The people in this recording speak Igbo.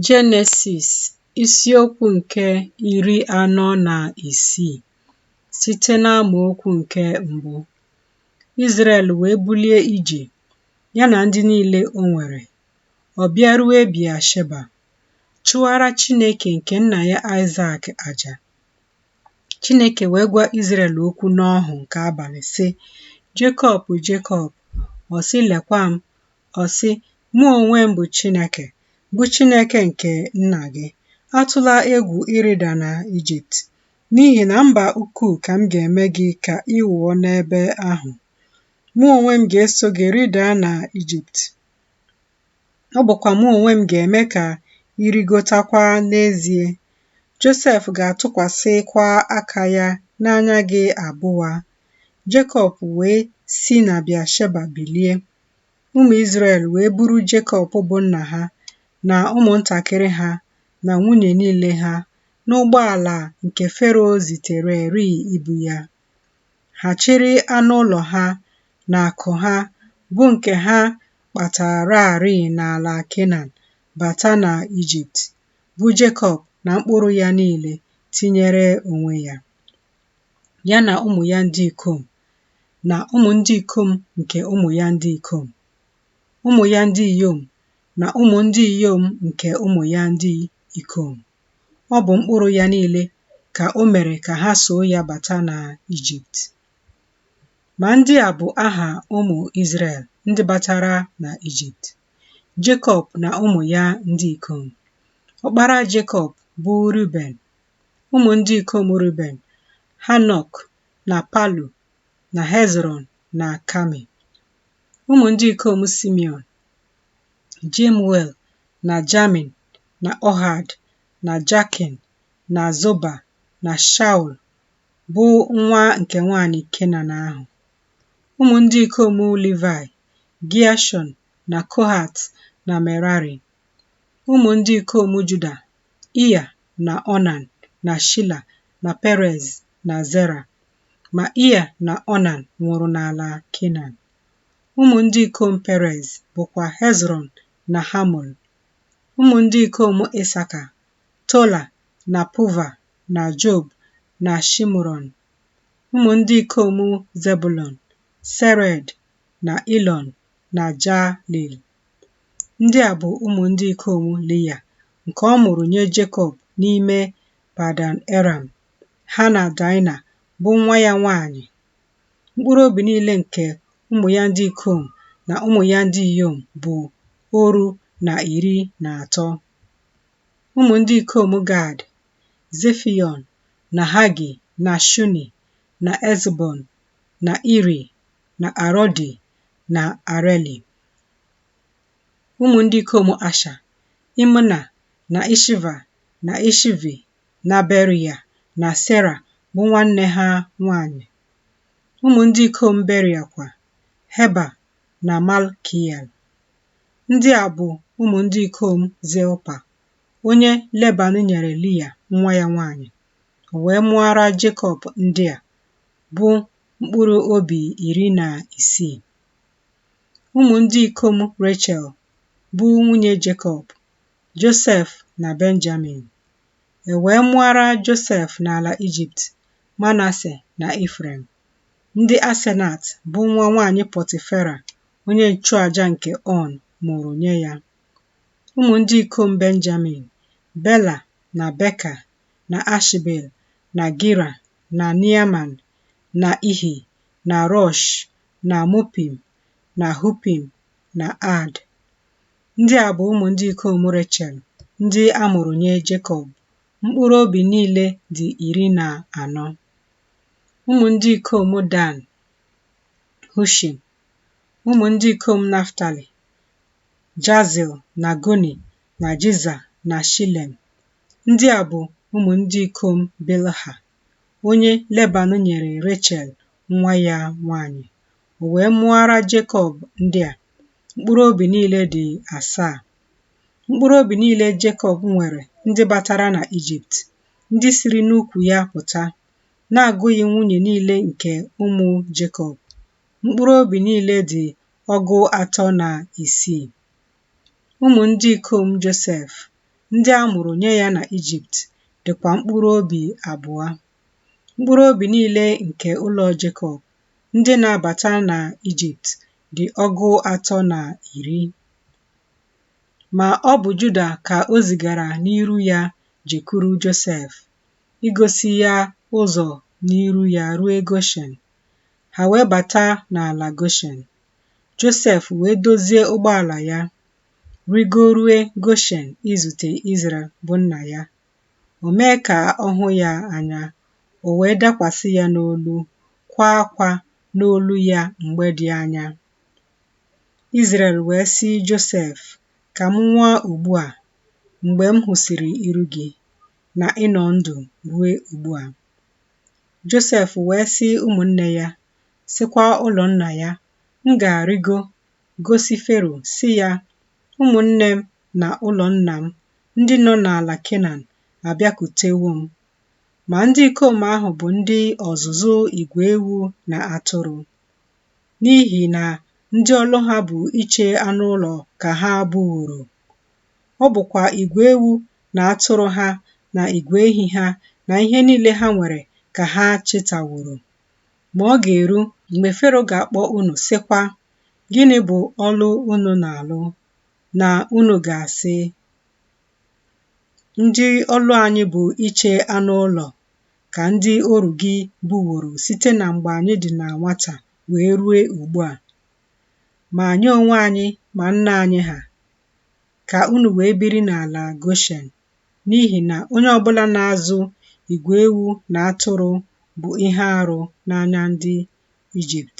Jenesis isiokwu̇ ǹke ìri anọ nà ìsii site n'amaokwu ǹke m̀bụ, Izrel wèe bulie ijè ya nà ndị niilė o nwèrè, ọ̀ bịa rue Biasheba, chụara Chinėkè ǹkè nnà ya Aịsak àjà. Chinėkè wèe gwa Izrel okwu n'ọhụ̀ ǹkè abàlị̀ sị, Jekọb, Jekọb, ọ̀ sị, Lèkwa m, Ọ sị, Mụ onwe m bụ Chineke, bụ Chineke nke nna gị. Atụla egwu ịrịda na Ijipt, n'ihi na mba ukwuu ka m ga-eme gị ka ị wụọ n'ebe ahụ. Mụ onwe m ga-eso gị rịda na Ijipt. Ọ bụkwa mụ onwe m ga-eme ka ị rịgotakwa n'ezie. Josef ga-atụkwasịkwa aka ya n'anya gị abụa. Jekọb wee si na Bịasheba bilie. ụmụ Izrel wee buru Jekọb bụ nna ha na ụmụntakịrị ha na nwunye niile ha n'ụgbọala nke Fero zitereri ibu ya. Ha chịrị anụ ụlọ ha na akụ ha bụ nke ha kpatararị n'ala Kenan bata na Ijipt, bụ Jekọb na mkpụrụ ya niile tinyere onwe ya, ya na ụmụ ya ndị ikom na ụmụ ndị ikom nke ụmụ ya ndị ikom, ụmụ ya ndị inyom na ụmụ ndị inyom nke ụmụ ya ndị ikom. Ọ bụ mkpụrụ ya niile ka o mere ka ha soo ya bata na Ijipt. Ma ndị a bụ aha ụmụ Izrel ndị batara na Ijipt. Jekọb na ụmụ ya ndị ikom. Ọkpara Jekọb bụ Ruben. Ụmụ ndị ikom Ruben, Hanok na Palu na Hezrọn na Kami. Ụmụ ndị ikom Simeon, Jemuel na Jamin na Ohad na Jakin na Zoba na Shaul bụ nwa nke nwanyị Kenan ahụ. Ụmụ ndị ikom Livai, Giashọn na Kohat na Merari. Ụmụ ndị ikom Juda Ịa na Ọnan na Shila na Perez na Zera. Ma Ịa na Ọnan nwụrụ n'ala Kenan. Ụmụ ndị ikom Perez bụkwa Hezrọn na Hamul. Ụmụ ndị ikom Isaka, Tola na Puva na Job na Shimron. Ụmụ ndị ikom Zebulon, Sered na Ilon na Jalil. Ndị a bụ ụmụ ndị ikom Lia nke ọ mụrụ nye Jekọb n'ime Padan Eram, ha na Daịna bụ nwa ya nwaanyị. Mkpụrụ obi niile nke ụmụ ya ndị ikom na ụmụ ya ndị inyom bụ oru na iri na atọ. Ụmụ ndị ikom Gad, Zefiọn na Hagi na Shuni na Ezbon na Iri na Arodi na Areli. Ụmụ ndị ikom Asha, Imna na Ishiva na Ishivi na Beria na Sera bụ nwanne ha nwanyị. Ụmụ ndị ikom Beria kwa, Heba na Malkiel. Ndị a bụ ụmụ ndị ikom Zilpa, onye Leban nyere Lia nwa ya nwanyị. O wee mụara Jekọb ndị a, bụ mkpụrụ obi iri na isii. Ụmụ ndị ikom Rechel bụ nwunye Jekọb, Josef na Benjamin. E wee mụara Josef n'ala Ijipt, Manase na Ifrem. Ndị Asenat bụ nwa nwaanyị Pọtifera, onye nchụaja nke On, mụrụ nye ya. Ụmụ ndị ikom Benjamin, Bela na Beka na Ashbel na Gira na Neaman na Ihi na Rosh na Mupim na Hupim na Aad. Ndị a bụ ụmụ ndị ikom Rechel ndị a mụrụ nye Jekọb. Mkpụrụ obi niile dị iri na anọ. Ụmụ ndị ikom Dan, Hushim. Ụmụ ndị ikom Naftali, Jazil na Guni na Jiza na Shilem. Ndị a bụ ụmụ ndị ikom Bilha. onye Leban nyere Rechel nwa ya nwanyị. O wee mụara Jekọb ndị a, mkpụrụ obi niile dị asaa. Mkpụrụ obi niile Jekọb nwere ndị batara na Ijipt, ndị siri n'ukwu ya pụta, na-agụghị nwunye niile nke ụmụ Jekọb. Mkpụrụ obi niile dị ọgụ atọ na isii. Ụmụ ndị ikom Josef ndị a mụrụ nye ya na Ijipt dịkwa mkpụrụ obi abụọ. Mkpụrụ obi niile nke ụlọ Jekọb ndị na-abata na Ijipt dị ọgụ atọ na iri. Ma ọ bụ Juda ka o zigara n'iru ya jekwuru Josef, igosi ya ụzọ n'iru ya rue Goshen. Ha wee bata n'ala Goshen. Josef wee dozie ụgbọala ya, rịgorue Goshen izute Izrel bụ nna ya. O mee ka ọ hụ ya anya, o wee dakwasị ya n'olu, kwaa akwa n'olu ya mgbe dị anya. Izrel wee sị Josef, Ka m nwụa ugbu a, mgbe m hụsịrị iru gị, na ị nọ ndụ ruo ugbu a. Josef wee sị ụmụnne ya, sịkwa ụlọ nna ya, M ga-arịgo gosi Fero, sị ya, Ụmụnne m na ụlọ nna m ndị nọ n'ala Kenan abịakutewo m. Ma ndị ikom ahụ bụ ndị ọzụzụ igwe ewu na atụrụ, n'ihi na ndị ọlụ ha bụ iche anụ ụlọ ka ha bụworo. Ọ bụkwa igwe ewu na atụrụ ha na igwe ehi ha na ihe niile ha nwere ka ha chịtaworo. Ma ọ ga-eru mgbe Fero ga-akpọ unu sịkwa, Gịnị bụ ọlụ unu na-alụ? Na unu ga-asị, Ndị ọlụ anyị bụ iche anụ ụlọ ka ndị oru gị bụworo site na mgbe anyị dị na nwata wee rue ugbu a. Ma anyị onwe anyị ma nna anyị ha, ka unu wee biri n'ala Goshen. n'ihi na onye ọbụla na-azụ igwe ewu na atụrụ bụ ihe arụ n'anya ndị Ijipt.